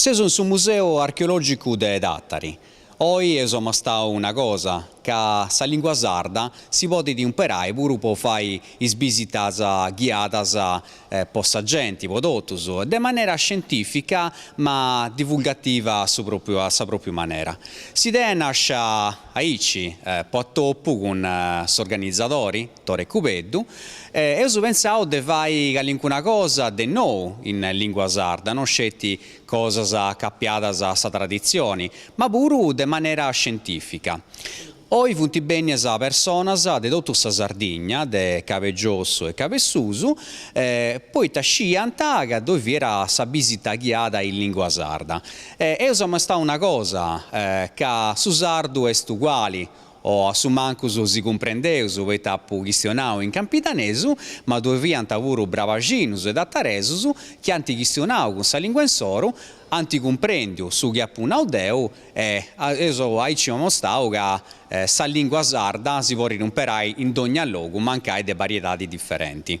Seus in su Museu Archeològicu de Tàtari. Oi eus amostau una cosa, ca sa lìngua sarda si podit imperai puru po fai is bisitas ghiadas po sa genti, po totus, de manera scientìfica ma divulgativa a su pròpiu a sa pròpiu manera. S'idea est nàscia aici, po atopu cun s'organizadori, Tore Cubeddu, e eus pentzau de fai calincuna cosa de nou in lìngua sarda, no sceti cosas acapiadas a sa traditzioni, ma puru de manera scientìfica. Oi funt bènnias personas de totu sa Sardigna, de Cabu 'e Giossu e Cabu 'e Susu, poita sciiant ca ddoi fiat sa bìsita ghiada in lìngua sarda. Eus amostau una cosa, ca su sardu est uguali, o a su mancus si cumprendeus, poita apu chistionau in campidanesu, ma ddoi fiant puru brabaxinus e tataresus chi ant chistionau cun sa lìngua insoru, ant cumprèndiu su chi apu nau deu, E eus aici amostau ca sa lìngua sarda si podit imperai in dònnia logu mancai de bariedadi diferenti.